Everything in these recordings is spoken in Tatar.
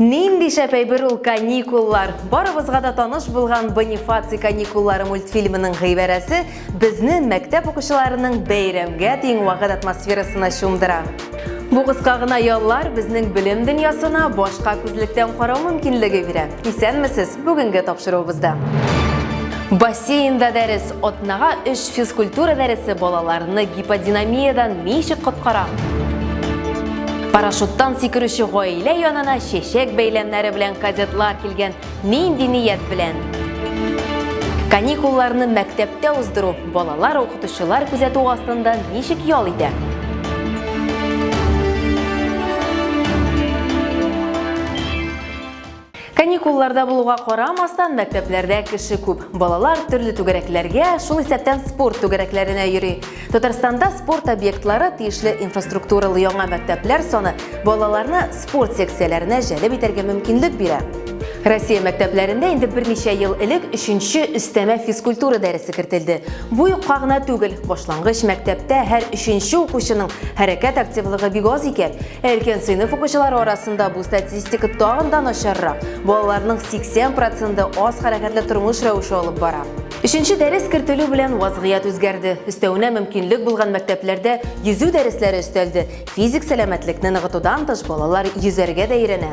Нинди шәп әйбер ул каникуллар! Барыбызга да таныш булган Бонифаций каникуллары мультфильмының гыйбарәсе безне мәктәп укучыларының бәйрәмгә тиң вакыт атмосферасына чумдыра. Бу кыска гына яллар безнең белем дөньясына башка күзлектән карау мөмкинлеге бирә. Исәнмесез, бүгенге тапшыруыбызда. Бассейнда дәрес, Атнага өч физкультура дәресе балаларны гиподинамиядән ничек коткара? Парашюттан сикерүче гаилә янына чәчәк бәйләмнәре белән кадетлар килгән нинди ният белән? Каникулларны мәктәптә уздыру балалар укытучылар күзәтү астында ничек ял итә? Каникулларда булуга карамастан, мәктәпләрдә кеше күп. Балалар төрле түгәрәкләргә, шул исәптән спорт түгәрәкләренә йөри. Татарстанда спорт объектлары, тиешле инфраструктуралы яңа мәктәпләр саны балаларны спорт секцияләренә җәлеп итәргә мөмкинлек бирә. Россия мәктәпләрендә инде берничә ел элек өченче өстәмә физкультура дәресе кертелде. Бу юкка гына түгел, башлангыч мәктәптә һәр өченче укучының хәрәкәт активлыгы бик аз икән. Өлкән сыйныф укучылары арасында бу статистика тагын да начаррак. Балаларның 80 проценты аз хәрәкәтле тормыш рәвеше алып бара. Өченче дәрес кертелү белән вазгыять үзгәрде. Өстәвенә мөмкинлек булган мәктәпләрдә йөзү дәресләре өстәлде. Физик сәламәтлекне ныгытудан тыш балалар йөзәргә дә өйрәнә.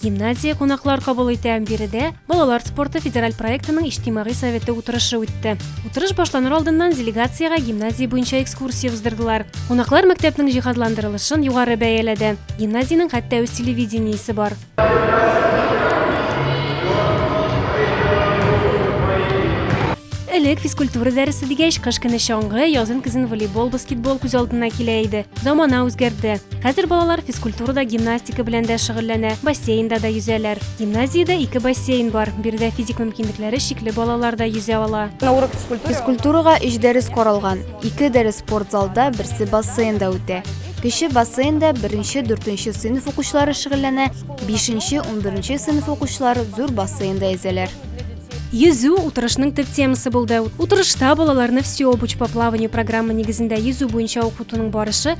Гимназия кунаклар кабул итә. Биредә балалар спорты федераль проектының иҗтимагый советы утырышы үтте. Утырыш башланыр алдыннан делегациягә гимназия буенча экскурсия уздырдылар. Кунаклар мәктәпнең җиһазландырылышын югары бәяләде. Гимназиянең хәтта үз телевидениесе бар. Элек физкультура дәресе дигәч, кыш көне чаңгы, язын көзен волейбол, баскетбол күз алдына килә иде. Замана үзгәрде. Хәзер балалар физкультурада гимнастика гимнастика белән дә шөгыльләнә, бассейнда да йөзәләр. Гимназиядә ике бассейн бар, биредә физик мөмкинлекләре чикле балалар да йөзә ала. Физкультурага өч дәрес каралган, ике дәрес спорт залда, берсе бассейнда үтә. Кече бассейнда беренче, дүртенче сыйныф укучылары шөгыльләнә, бишенче, унберенче сыйныф укучылары зур бассейнда йөзәләр. Йөзү утырышның төп темасы булды. Утырышта балаларны все обуч по плаванию программа нигезендә йөзү буенча укытуның барышы,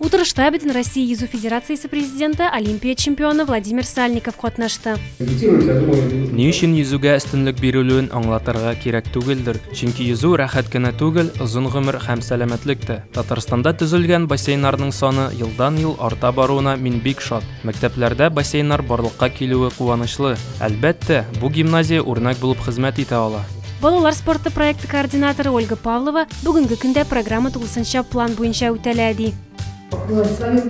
Утырышта Бөтенроссия йөзү федерациясе президенты, Олимпия чемпионы Владимир Сальников катнашты. Ни өчен йөзүгә өстенлек бирелүен аңлатырга кирәк түгелдер, чөнки йөзү рәхәт кенә түгел, озын гомер һәм сәламәтлек тә. Татарстанда төзелгән бассейннарның саны елдан-ел арта баруына мин бик шат. Мәктәпләрдә бассейннар барлыкка килүе куанычлы. Әлбәттә, бу гимназия үрнәк булып хезмәт итә ала. Балалар спорты проекты координаторы Ольга Павлова, Бүгенге көндә программа тулысынча план буенча үтәлә, ди.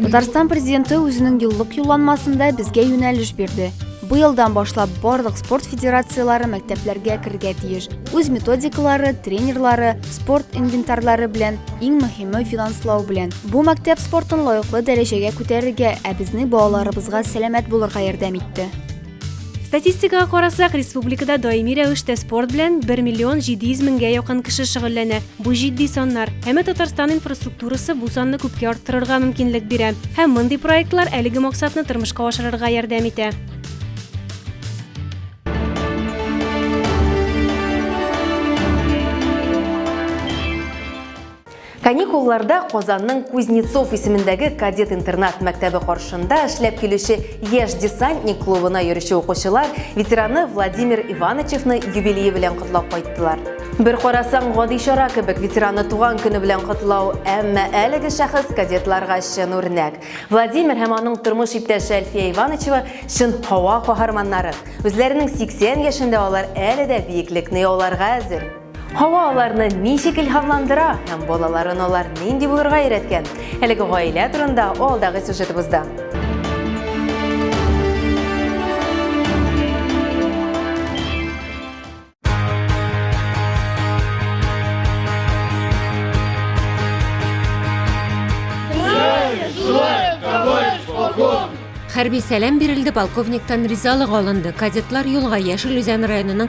Татарстан президенты үзенең еллык юлланмасында безгә юнәлеш бирде. Быелдан башлап барлык спорт федерацияләре мәктәпләргә керергә тиеш. Үз методикалары, тренерлары, спорт инвентарьлары белән, иң мөһиме финанслау белән. Бу мәктәп спортын лаеклы дәрәҗәгә күтәрергә, ә безнең балаларыбызга сәламәт булырга ярдәм итте. Статистикага карасак, республикада даими рәвештә спорт белән 1 миллион 700 меңгә якын кеше шөгыльләнә. Бу җитди саннар. Әмма Татарстан инфраструктурасы бу санны күпкә арттырырга мөмкинлек бирә. Һәм мондый проектлар әлеге максатны тормышка ашырырга ярдәм итә. Каникулларда Казанның Кузнецов исемендәге кадет-интернат мәктәбе каршында эшләп килүче Яшь десантник клубына йөрүче укучылар ветераны Владимир Ивановичны юбилее белән котлап кайттылар. Бер карасаң, гади чара кебек ветераны туган көне белән котлау, әмма әлеге шәхес кадетларга чын үрнәк. Владимир һәм аның тормыш иптәше Әлфия Ивановичева чын һава каһарманнары. Үзләренең 80 яшендә алар әле дә биеклекне яуларга әзер. Һава аларны ничек илһамландыра һәм балаларын алар нинди булырга өйрәткән? Әлеге гаилә турында алдагы сюжетыбызда. Хәрби сәлам бирелде, полковниктан ризалык алынды. Кадетлар юлга Яшел Үзән районының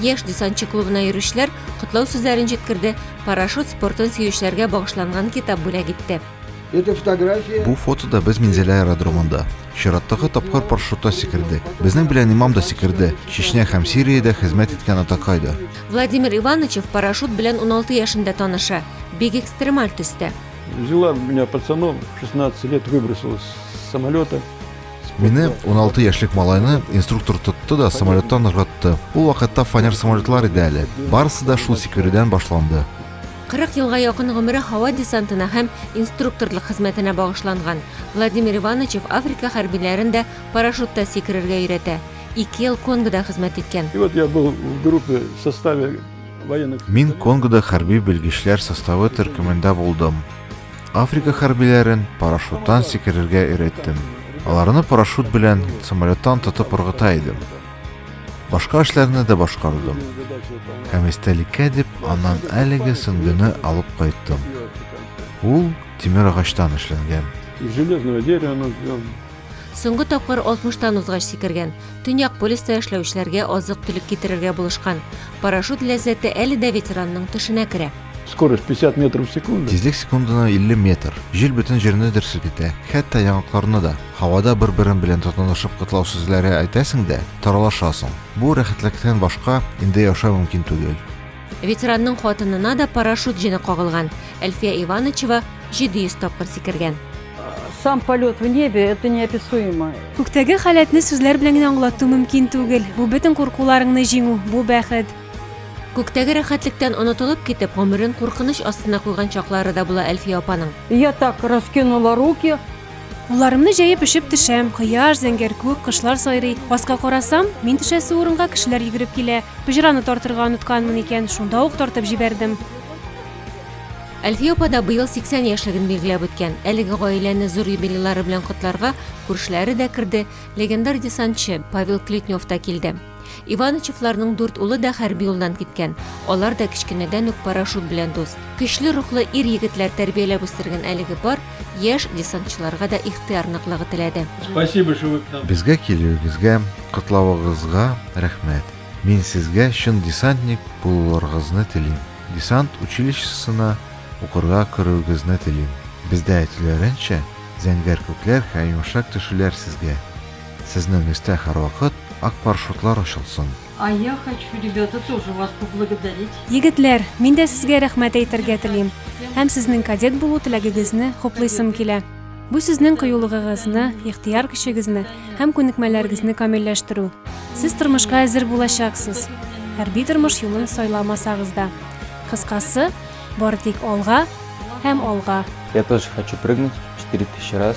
Яшь десантчы клубына йөрүчеләр котлау сүзләрен җиткерде, парашют спортын сөючеләргә багышланган китап бүләк итте. Это фотография. Бу фотода без Минзәлә аэродромында. Чираттагы тапкыр парашютта сикердек. Безнең белән имам да сикерде. Чечня һәм Сириядә хезмәт иткән атакай да. Владимир Ивановичев парашют белән 16 яшендә таныша. Бик экстремаль төстә. Взяла меня пацаном, 16 лет выбросила с самолета. Мине 16 яшьлек малайны инструктор тотты да самолеттан ыргытты. Ул вакытта фанер самолетлар иде әле. Барысы да шул сикерүдән башланды. 40 елга якын гомере һава десантына һәм инструкторлык хезмәтенә багышланган. Владимир Ивановичев Африка хәрбиләрен дә парашютта сикерергә өйрәтә. Ике ел Конгода хезмәт иткән. И вот я был в группе в составе военных... Мин Конгода хәрби белгечләр составы төркемендә булдым. Африка хәрбиләрен парашюттан сикерергә өйрәттем. Аларны парашют белән самолеттан тотып ыргыта идем. Башка эшләрне дә башкардым. Һәм истәлеккә дип аннан әлеге сөңгене алып кайттым. Ул тимер агачтан эшләнгән. Железного дерева Соңгы тапкыр 60-тан узгач сикергән. Төньяк полюста эшләүчеләргә азык-төлек китерергә булышкан. Парашют ләззәте әле дә ветеранның төшенә керә. Скорость 50 метров в секунду. Тизлек секундына 50 метр. Җил бөтен җирне дер селкетә, хәтта яңакларны да. Һавада бер-берең белән тотынышып котлау сүзләре әйтәсең дә, таралашасың. Бу рәхәтлектән башка инде яшәү мөмкин түгел. Ветеранның хатынына да парашют җене кагылган. Әлфия Иванычева 700 тапкыр сикергән. Сам полет в небе это неописуемо. Күктәге халәтне сүзләр белән генә аңлату мөмкин түгел. Бу бөтен куркуларыңны җиңү, бу бәхет. Күктәге рәхәтлектән онытылып китеп, гомерен куркыныч астына куйган чаклары да була Әлфия апаның. Я так раскинула руки, Кулларымны җәеп өшеп төшәм. Кояш, зәңгәр күк, кошлар сайрый. Аска карасам, мин төшәсе урынга кешеләр йөгереп килә. Пыҗраны тартырга онытканмын икән, шунда ук тартып җибәрдем. Әлфия апа да быел 80 яшьлеген билгеләп үткән. Әлеге гаиләне зур юбилейлары белән котларга күршеләре дә керде, легендар десантчы Павел Клетнев та килде. Иванычевларның дүрт улы да хәрби юлдан киткән. Алар да кечкенәдән үк парашют белән дус. Көчле рухлы ир-егетләр тәрбияләп үстергән әлеге пар яшь десантчыларга да ихтыяр ныклыгы теләде. Спасибо, что вы к нам. Безгә килүегезгә, котлавыгызга рәхмәт. Мин сезгә чын десантник булуларыгызны телим. Десант училищесына укырга керүегезне телим. Бездә әйтүләренчә, зәңгәр күкләр һәм йомшак төшүләр сезгә. Сезнең өстә һәрвакыт ак парашютлар очылсын! А я хочу, ребята, тоже вас поблагодарить. Егетләр, мин дә сезгә рәхмәт әйтергә телим һәм сезнең кадет булу теләгегезне хуплыйсым килә. Бу сезнең кыюлыгыгызны, ихтыяр көчегезне һәм күнекмәләрегезне камилләштерү. Сез тормышка әзер булачаксыз, хәрби тормыш юлын сайламасагыз да. Кыскасы, бары тик алга һәм алга! Я тоже хочу прыгнуть 4000 раз.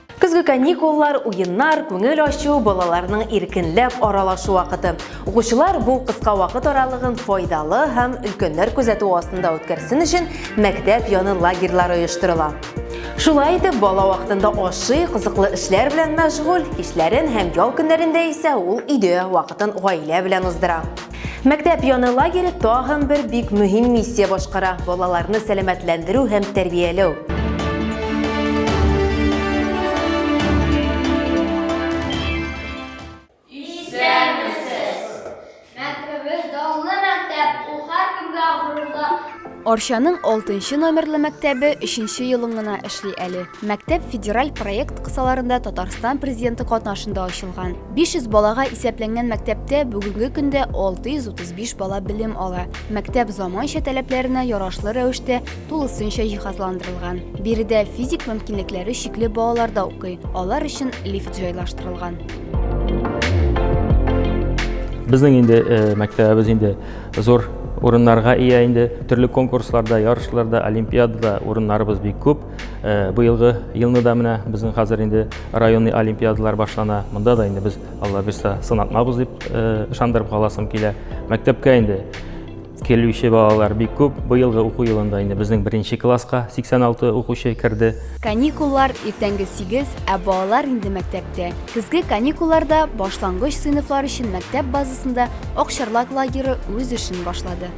Көзге каникуллар, уеннар, күңел ачу, балаларның иркенләп аралашу вакыты. Укучылар бу кыска вакыт аралыгын файдалы һәм өлкәннәр күзәтү астында үткәрсен өчен мәктәп яны лагерьлары оештырыла. Шулай итеп, бала вакытында ашый, кызыклы эшләр белән мәшгуль, кичләрен һәм ял көннәрендә исә ул өйдә вакытын гаилә белән уздыра. Мәктәп яны лагере тагын бер бик мөһим миссия башкара, балаларны сәламәтләндерү һәм тәрбияләү. Арчаның алтынчы номерлы мәктәбе өченче елын гына эшли әле. Мәктәп федераль проект кысаларында Татарстан Президенты катнашында ачылган. 500 балага исәпләнгән мәктәптә бүгенге көндә 635 бала белем ала. Мәктәп заманча таләпләренә ярашлы рәвештә тулысынча җиһазландырылган. Биредә физик мөмкинлекләре чикле балалар да укый, алар өчен лифт җайлаштырылган. Безнең инде мәктәбебез инде Зур урыннарга ия инде. Төрле конкурсларда, ярышларда, олимпиадада урыннарыбыз бик күп. Э, быелгы елны да менә безнең хәзер инде районный олимпиадалар башлана. Монда да инде без Алла бирса сынатмабыз дип э, ышандырып каласым килә. Мәктәпкә инде килүче балалар бик күп. Быелгы уку елында инде безнең беренче класска 86 укучы керде. Каникуллар иртәнге 8, ә балалар инде мәктәптә. Көзге каникулларда башлангыч сыйныфлар өчен мәктәп базасында Акчарлак лагеры үз эшен башлады.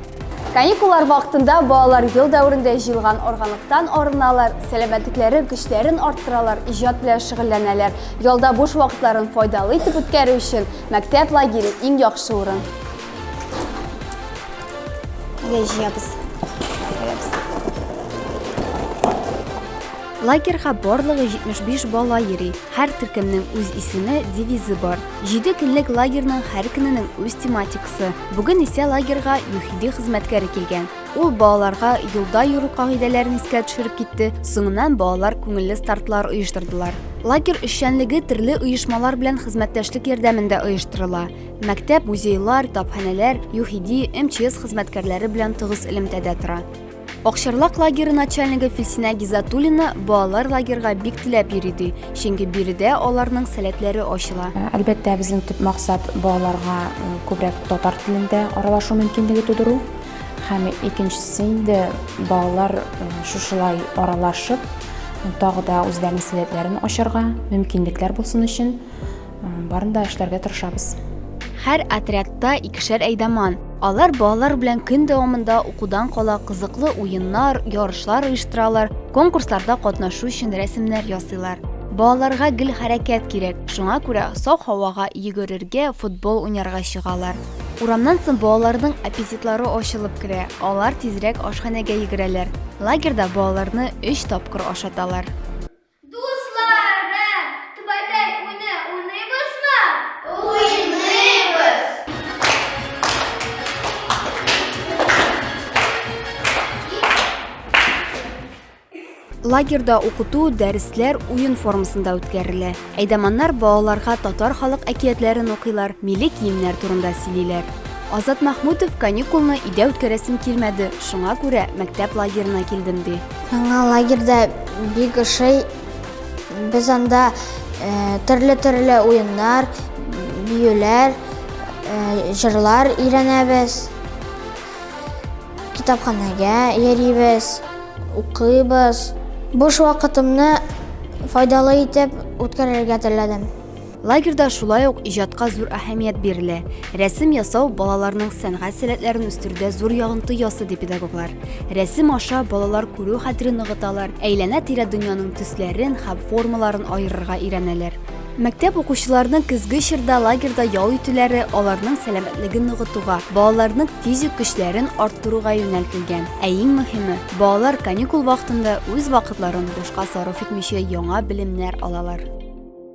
Каникуллар вакытында балалар ел дәверендә җыелган органлыктан арыналар, сәламәтлекләре, көчләрен арттыралар, иҗат белән шөгыльләнәләр. Ялда буш вакытларын файдалы итеп үткәрү өчен мәктәп лагере иң яхшы урын. Әйдә җыябыз. Лагерьга барлыгы 75 бала йөри. Һәр төркемнең үз исеме, девизы бар. Җиде көнлек лагерьның һәр көненең үз тематикасы. Бүген исә лагерьга ЮХИДИ хезмәткәре килгән. Ул балаларга юлда йөрү кагыйдәләрен искә төшереп китте, соңыннан балалар күңелле стартлар оештырдылар. Лагерь эшчәнлеге төрле оешмалар белән хезмәттәшлек ярдәмендә оештырыла. Мәктәп, музейлар, тапханәләр, ЮХИДИ, МЧС хезмәткәрләре белән тыгыз элемтәдә тора. Акчарлак лагеры начальнигы Филсинә Гизатуллина балалар лагерга бик теләп йөри ди, чөнки биредә аларның сәләтләре ачыла. Әлбәттә, безнең төп максат балаларга э, күбрәк татар телендә аралашу мөмкинлеге тудыру. Һәм икенчесе инде балалар э, шушылай аралашып, тагы да үзләренең сәләтләрен ачарга мөмкинлекләр булсын өчен Барын да эшләргә тырышабыз. Һәр отрядта икешәр әйдаман. Алар балалар белән көн дәвамында укудан кала кызыклы уеннар, ярышлар оештыралар, конкурсларда катнашу өчен рәсемнәр ясыйлар. Балаларга гел хәрәкәт кирәк, шуңа күрә саф һавага йөгерергә, футбол уйнарга чыгалар. Урамнан соң балаларның аппетитлары ачылып керә, алар тизрәк ашханәгә йөгерәләр. Лагерьда балаларны өч тапкыр ашаталар. Лагерда укыту, дәресләр уен формасында үткәрелә. Әйдаманнар балаларга татар халык әкиятләрен укыйлар, милли киемнәр турында сөйлиләр. Азат Махмутов каникулны өйдә үткәрәсем килмәде, шуңа күрә мәктәп лагерына килдем ди. Яңа лагерьда бик ошый. Без анда э, төрле-төрле уеннар, биюләр, э, җырлар өйрәнәбез. Китапханәгә йөрибез, укыйбыз. Буш вакытымны файдалы итеп үткәрергә теләдем. Лагерьда шулай ук иҗатка зур әһәмият бирелә. Рәсем ясау балаларның сәнгать сәләтләрен үстерүдә зур ягынты ясы ди педагоглар. Рәсем аша балалар күрү хәтерен ныгыталар, әйләнә-тирә дөньяның төсләрен һәм формаларын аерырга өйрәнәләр. Мәктәп укучыларының көзге чорда лагерьда ял итүләре аларның сәламәтлеген ныгытуга, балаларның физик көчләрен арттыруга юнәлтелгән. Ә иң мөһиме, балалар каникул вакытында үз вакытларын бушка сарыф итмичә яңа белемнәр алалар.